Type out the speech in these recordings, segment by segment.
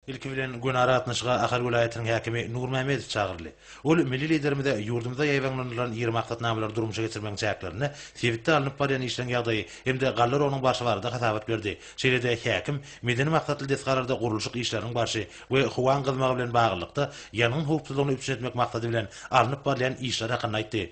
Ilki bilen göni aragatnaşyga Ahal welaýatynyň häkimi Nurmämmedow çagyryldy. Ol milli Liderimize ýurdumyzda ýaýbaňlanylan ýygy maksatnamalary durmuşa geçirmegiň çäklerinde sebitde alnyp barýan işleriň ýagdaýy hem-de gallar onuň barşy barada hasabat berdi. Şeýle-de häkim medeni maksatly desgalarda gurluşyk işleriniň barşy we howaň gyzmagy bilen baglylykda ýangyn howpsuzlygyny üpjün etmek maksady bilen alnyp barylýan işler hakynda aýtdy.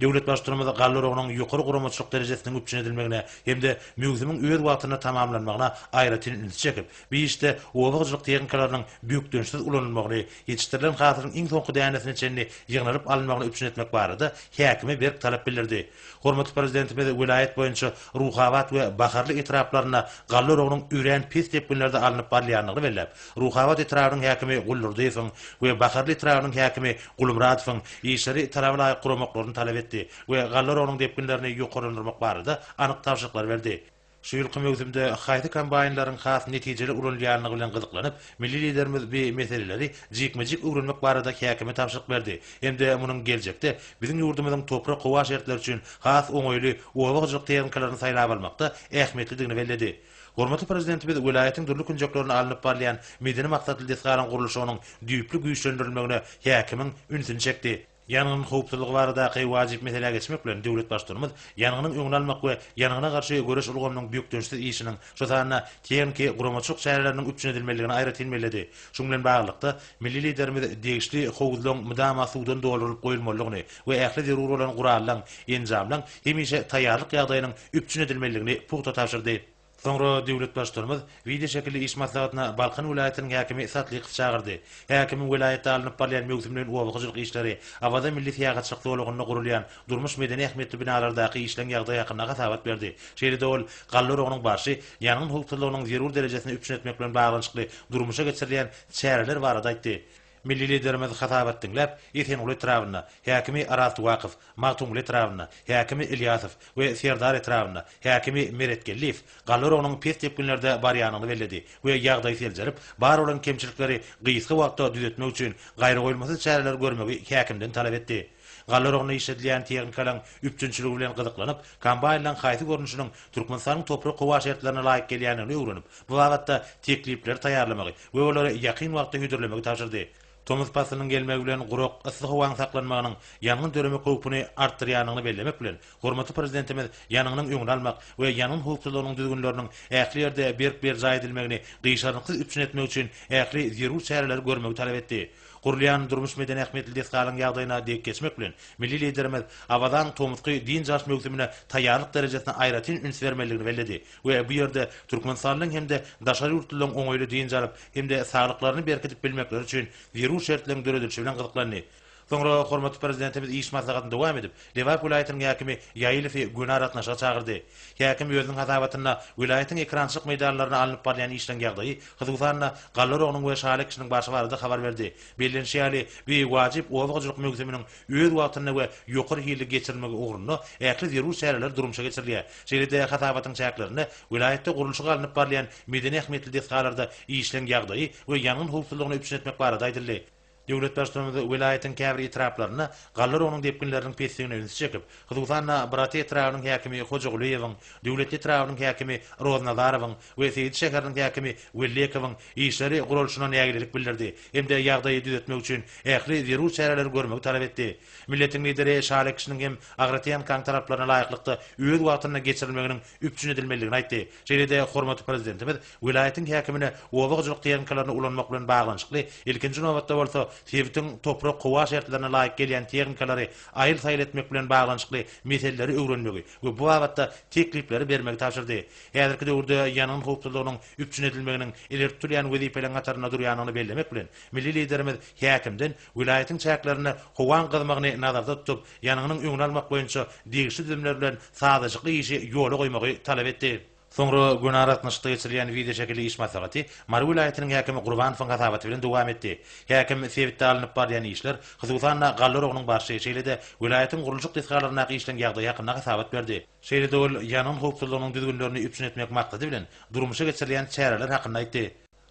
Döwlet Baştutanymyz galla oragynyň ýokary guramaçylyk derejesiniň üpjün edilmegine hem-de möwsümiň öz wagtynda tamamlanmagyna aýratyn ünsi çekip, bu işde oba hojalyk tehnikalarynyň bökdençsiz ulanylmagyny, ýetişdirilen hasylyň iň soňky dänesine çenli ýygnalyp alynmagyny üpjün etmek barada häkime berk talap bildirdi. Hormatly Prezidentimiz welaýat boýunça Ruhabat we Baharly etraplarynda galla oragynyň örän pes depginlerde alnyp barylýandygyny belläp, Ruhabat etrabynyň häkimi Guldurdyýewiň we Baharly etrabynyň häkimi Gulmyradowyň işleri talaba laýyk guramaklaryny talap etdi we gallarogynyň depginlerini ýokarlandyrmak barada anyk tabşyryklar berdi. Şu ýylky möwsümde haýsy kombaýnlaryň has netijeli ulanylýandygy bilen gyzyklanyp, milli Liderimiz bi meseleleri jikme-jik öwrenmek barada häkime tabşyryk berdi hem-de munuň geljekde biziň ýurdumyzyň toprak-howa şertleri üçin has oňaýly oba hojalyk tehnikalaryny saýlap almakda ähmiýetlidigini belledi. Hormatly Prezidentimiz welaýatyň dürli künjeklerinde alnyp barylýan medeni maksatly desgalaryň gurluşygynyň düýpli güýçlendirilmegine häkimiň ünsüni çekdi. Ýangyn howpsuzlygy baradaky wajyp meselä geçmek bilen, döwlet Baştutanymyz ýangynyň öňüni almak we ýangyna garşy göreş ulgamynyň bökdençsiz işiniň, şol sanda tehniki, guramaçylyk çäreleriniň üpjün edilmelidigini aýratyn belledi. Şunuň bilen baglylykda, milli Liderimiz degişli howuzlaryň mydama suwdan doldurylyp goýulmalydygyny we ähli zerur bolan gurallaň, enjamlaň hemişe taýýarlyk ýagdaýynyň üpjün edilmelidigini pugta tabşyrdy. Soňra döwlet Baştutanymyz wideoşekilli iş maslahatyna Balkan welaýatynyň häkimi Satlykowy çagyrdy. Häkimiň welaýatda alnyp barylýan möwsüm bilen oba hojalyk işleri, Awaza milli syýahatçylyk zolagynda gurulýan durmuş-medeni ähmiýetli binalardaky işleň ýagdaýy hakynda hasabat berdi. Şeýle-de ol galla oragynyň barşy, ýangyn howpsuzlygynyň zerur derejesini üpjün etmek bilen baglanyşykly durmuşa geçirilýän çäreler barada aýtdy. Milli Liderimiz hasabat diňläp, Esenguly etrabynda, häkimi Arazty Wakow, Magtymguly etrabynda, häkimi Ilýasow we Serdar etrabynda, häkimi Meretgeldiýew, Gallarogynyň pes depginlerde barýanyny belledi we ýagdaýy seljerip, bar bolan kemçilikleri gysga wagtda düzetmek üçin gaýragoýulmasyz çäreler görmegi häkimden talap etdi. Gallarogynda işledilýän tehnikalaryň üpjünçiligi bilen gyzyklanyp, kombaýnlaryň haýsy görnüşiniň Türkmenistanyň toprak-howa şertlerine laýyk gelýändigini öwrenip, bu babatda teklipleri taýýarlamagy we olary ýakyn wagtda hödürlemegi tabşyrdy. Tomus paslynyň gelmegi bilen gurak, yssy howaň saklanmagynyň ýangyn döreme howpuny artdyrýandygyny bellemek bilen, hormatly Prezidentimiz ýangynyň öňüni almak we ýangyn howpsuzlygynyň düzgünleriniň ähli ýerde berk berjaý edilmegini gyşarnyksyz üpjün etmek üçin ähli zerur çäreleri görmegi talap etdi. Gurulýan durmuş-medeni ähmiýetli desgalaryň ýagdaýyna dek geçmek bilen, milli Liderimiz Abadan tomusky dynç alyş möwsümine taýýarlyk derejesine aýratyn üns bermelidigini belledi. we bu ýerde türkmenistanlyň hem-de daşary ýurtlylaryň oňaýly dynç alyp hem-de saglyklaryny berkidip bilmekleri üçin zerur şertleriň döredilişi bilen gyzyklandy. Soňra hormatly Prezidentimiz iş maslahatyny dowam edip, Lebap welaýatynyň häkimi Ýaýylowy göni aragatnaşyga çagyrdy. Häkim özüniň hasabatynda welaýatyň ekerançylyk meýdanlarynda alnyp barylýan işleriň ýagdaýy, hususan-da, galla oragynyň we şaly ekişiniň barşy barada habar berdi. Bellenişi ýaly, bu wajyp oba hojalyk möwsüminiň öz wagtynda we ýokary hilli geçirilmegi ugrunda ähli zerur çäreler durmuşa geçirilýär. Şeýle-de hasabatyň çäklerinde welaýatda gurluşygy alnyp barylýan medeni ähmiýetli desgalarda işleň ýagdaýy we ýangyn howpsuzlygyny üpjün etmek barada aýdyldy. Döwlet Baştutanymyz welaýatyň käbir etraplaryna galla rogunyň depginleriniň pesdigine ünsi çekip, hususan-da, Brat etrabynyň häkimi Hojagulyýewiň, Döwletli etrabynyň häkimi Roznazarowyň, we Seýit şäheriniň häkimi Wellekowyň işleri guralyşyna nägilelik bildirdi hem-de ýagdaýy düzetmek üçin ähli zerur çäreleri görmegi talap etdi. Milletiň Lideri Şale kişiniň hem Agratýenkaň talaplaryna laýyklykda öz wagtynda geçirilmeginiň üpjün edilmelidigini aýtdy. Şeýle-de hormatly Prezidentimiz welaýatyň häkimine oba hojalyk tehnikalaryny ulanmak bilen baglanyşykly, ilkinji nobatda bolsa, sebitiň toprak-howa şertlerine laýyk gelýän tehnikalary aýyl-saýyl etmek bilen baglanyşykly meseleleri öwrenmegi we bu babatda teklipleri bermegi tabşyrdy. Häzirki döwürde ýangyn howpsuzlygynyň üpjün edilmeginiň ileri tutulýan wezipeleriň hatarynda durýandygyny bellemek bilen, milli Liderimiz häkimden welaýatyň çäklerinde howaň gyzmagyny nazarda tutup, ýangynyň öňüni almak boýunça degişli düzümler bilen sazlaşykly işi ýola goýmagy talap etdi. Soňra gün aragatnaşykda geçirilýän wideoşekilli iş maslahaty Mary welaýatynyň häkimi Gurbanowyň hasabaty bilen dowam etdi. Häkim sebitde alnyp barylýan işler, hususan-da, galla oragynyň barşy, şeýle-de welaýatyň gurluşyk desgalaryndaky işleň ýagdaýy hakynda hasabat berdi. Şeýle-de ol ýangyn howpsuzlygynyň düzgünlerini üpjün etmek maksady bilen durmuşa geçirilýän çäreler hakynda aýtdy.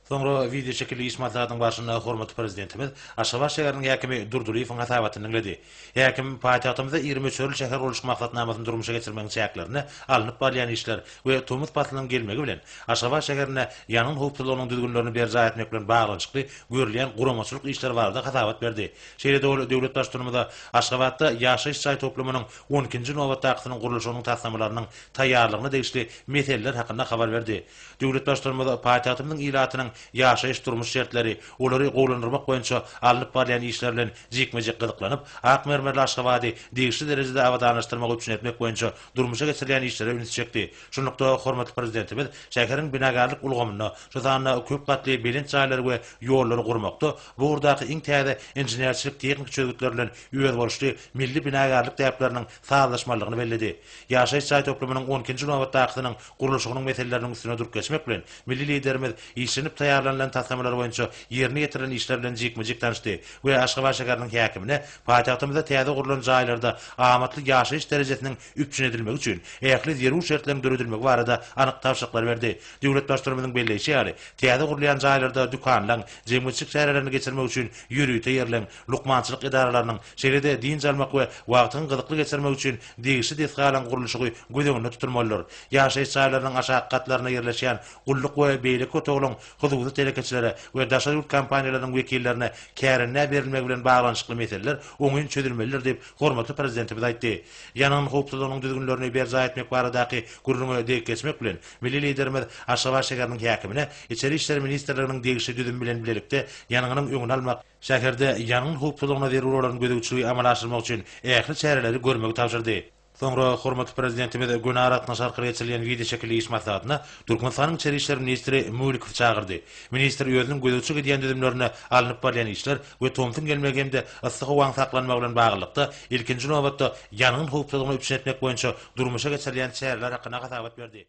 Soňra wideoşekilli iş maslahatynyň barşynda hormatly Prezidentimiz Aşgabat şäheriniň häkimi Durdylyýewiň hasabatyny diňledi. Häkim paýtagtymyzda iri möçberli şäher gurluşyk maksatnamasyny durmuşa geçirmegiň çäklerinde alnyp barylýan işler we tomus paslynyň gelmegi bilen Aşgabat şäherinde ýangyn howpsuzlygynyň düzgünlerini berjaý etmek bilen baglanyşykly görülýän guramaçylyk işleri barada hasabat berdi. Şeýle-de ol döwlet Baştutanymyza Aşgabatda ýaşaýyş jaý toplumynyň on ikinji nobatdakysynyň gurluşygynyň taslamalarynyň taýýarlygyna degişli meseleler hakynda habar berdi. Döwlet Baştutanymyz paýtagtymyzyň ilatynyň ýaşaýyş-durmuş şertleri, olary gowulandyrmak boýunça alnyp barylýan işler bilen jikme-jik gyzyklanyp, ak mermerli Aşgabady degişli derejede abadanlaşdyrmagy üpjün etmek boýunça durmuşa geçirilýän işlere ünsi çekdi. Şunlukda, hormatly Prezidentimiz şäheriň binagärlik ulgamyny, şu sanda köp gatly belent jaýlary we ýollary gurmakda bu ugurdaky iň täze inženerçilik-tehniki çözgütler bilen özboluşly milli binagärlik däpleriniň sazlaşmalydygyny belledi. Ýaşaýyş jaý toplumynyň on ikinji nobatdakysynyň gurluşygynyň meseleleriniň üstüne durk geçmek bilen, milli Liderimiz işlenip taýýarlanylan taslamalar boýunça ýerine ýetirilen işler bilen jikme-jik tanyşdy we Aşgabat şäheriniň häkimine paýtagtymyzda täze gurlan jaýlarda amatly ýaşaýyş derejesiniň üpjün edilmegi üçin ähli zerur şertleriň döredilmegi barada anyk tabşyryklary berdi. Döwlet Baştutanymyzyň belleýşi ýaly, täze gurulýan jaýlarda dükanlaryň, jemgyýetçilik çärelerini geçirmek üçin ýörite ýerleň, lukmançylyk edaralarynyň, şeýle-de dynç almak we wagtyň gyzykly geçirmek üçin degişli desgalaryň gurluşygy göz öňünde tutulmalydyr. Ýaşaýyş jaýlarynyň aşaky gatlarynda ýerleşýän gulluk we beýleki otaglaryň hususy telekeçilere we daşary ýurt kompaniýalarynyň wekillerine kärendä berilmegi bilen baglanyşykly meseleler oňyn çözülmelidir diýip, hormatly Prezidentimiz aýtdy. Ýangyn howpsuzlygynyň düzgünlerini berjaý etmek baradaky gürrüňe degip geçmek bilen, milli Liderimiz Aşgabat şäheriniň häkimine içeri işler ministrliginiň degişli düzümi bilen bilelikde ýangynyň öňüni almak, Şäherde ýangyn howpsuzlygyna zerur bolan gözegçiligi amala aşyrmak üçin ähli çäreleri görmegi tabşyrdy. Soňra hormatly Prezidentimiz gün aragatnaşy arkaly geçirilýän wideoşekilli iş maslahatyna Türkmenistanyň Içeri işler ministri Mulikowy çagyrdy. Ministr özüniň gözegçilik edýän düzümlerinde alnyp barylýan işler we tomsuň gelmegi hem-de yssy howaň saklanmagy bilen baglylykda, ilkinji nobatda, ýangyn howpsuzlygyny üpjün etmek boýunça durmuşa geçirilýän çäreler hakynda hasabat berdi.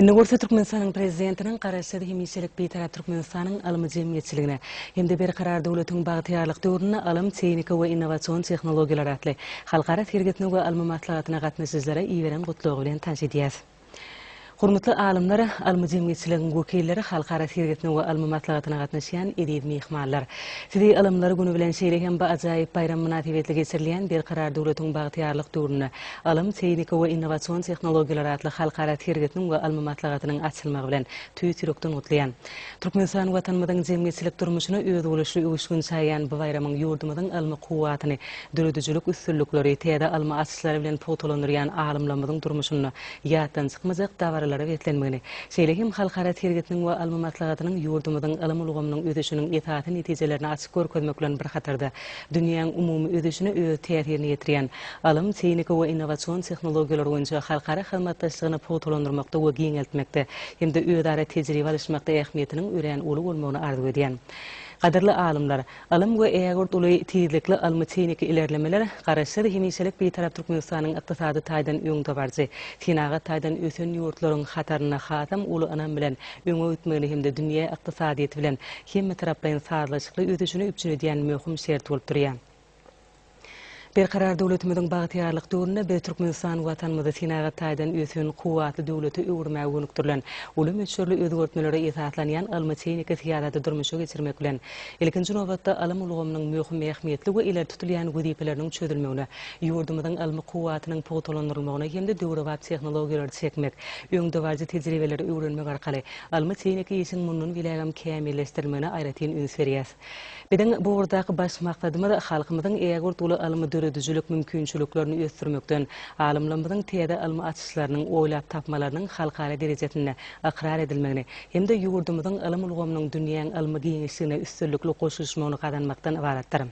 Indi bolsa Türkmenistanyň Prezidentiniň Garaşsyz, hemişelik Bitarap Türkmenistanyň ylmy jemgyýetçiligine hem-de Berkarar döwletiň bagtyýarlyk döwründe ylym, tehnika we innowasion tehnologiýalar atly halkara sergisine we ylmy maslahatyna gatnaşyjylara iberen Gutlagy bilen tanyş edýäris. Hormatly alymlar, ylmy jemgyýetçiligiň wekilleri, halkara sergisine we ylmy maslahatyna gatnaşýan eziz myhmanlar! Sizi Ylymlar güni bilen şeýle hem bu ajaýyp baýram mynasybetli geçirilýän Berkarar döwletiň bagtyýarlyk döwründe Ylym, tehniki we innowasion tehnologiýalar atly halkara sergisiniň we ylmy maslahatynyň açylmagy bilen tüýs ýürekden gutlaýan! Türkmenistan Watanymyzyň jemgyýetçilik durmuşyna özboluşly öwüşgin çaýýan bu baýramyň ýurdumyzyň ylmy kuwwatyny, döredijilik üstünlikleri, täze ylmy açyşlary bilen pugtalandyrýan alymlarymyzyň durmuşynda ýatdan çykmajak dabaralara beslenmegini, şeýle hem halkara sergisiniň we ylmy maslahatynyň ýurdumyzyň ylym ulgamynyň ösüşiniň esasy netijelerini açyp görkezmek bilen bir hatarda Dünýäň umumy ösüşine öz täsirini ýetirýän, ylym, tehnika we innowasion tehnologiýalar boýunça halkara hyzmatdaşlygyny pugtalandyrmakda we giňeltmekde hem-de özara tejribe alyşmakda ähmiýetiniň örän uly bolmagyny arzuw edýän gadyrly alymlar, ylym we ägirt uly tizlikli ylmy-tehniki ilerlemeler Garaşsyz, hemişelik Bitarap Türkmenistanyň ykdysady taýdan öňdebaryjy, senagat taýdan ösen ýurtlaryň hataryna hasam uly ynam bilen öňe gitmegini hem-de dünýä ykdysadyýeti bilen hemmetaraplaýyn sazlaşykly ösüşini üpjün edýän möhüm şert bolup durýar. Berkarar döwletimiziň bagtyýarlyk döwründe biz Türkmenistan Watanymyzy senagat taýdan ösen, kuwwatly döwlete öwürmäge gönükdirilen, uly möçberli özgertmelere esaslanýan ylmy-tehniki syýasaty durmuşa geçirmek bilen, ilkinji nobatda, ylym ulgamynyň möhüm ähmiýetli we ileri tutulýan wezipeleriniň çözülmegine, ýurdumyzyň ylmy kuwwatynyň pugtalandyrylmagyna hem-de döwrebap tehnologiýalary çekmek, öňdebaryjy tejribeleri öwrenmek arkaly Ylmy-tehniki işiň mundan beýlägem kämilleşdirilmegine aýratyn üns berýäs. Biziň bu ugurdaky baş maksadymyz, halkymyzyň ägirt uly ylmy-döredijilik mümkinçiliklerini ösdürmekden, alymlarymyzyň täze ylmy açyşlarynyň, oýlap tapmalarynyň halkara derejesinde ykrar edilmegini hem-de ýurdumyzyň ylym ulgamynyň dünýäň ylmy giňişligine üstünlikli goşulyşmagyny gazanmakdan ybaratdyr.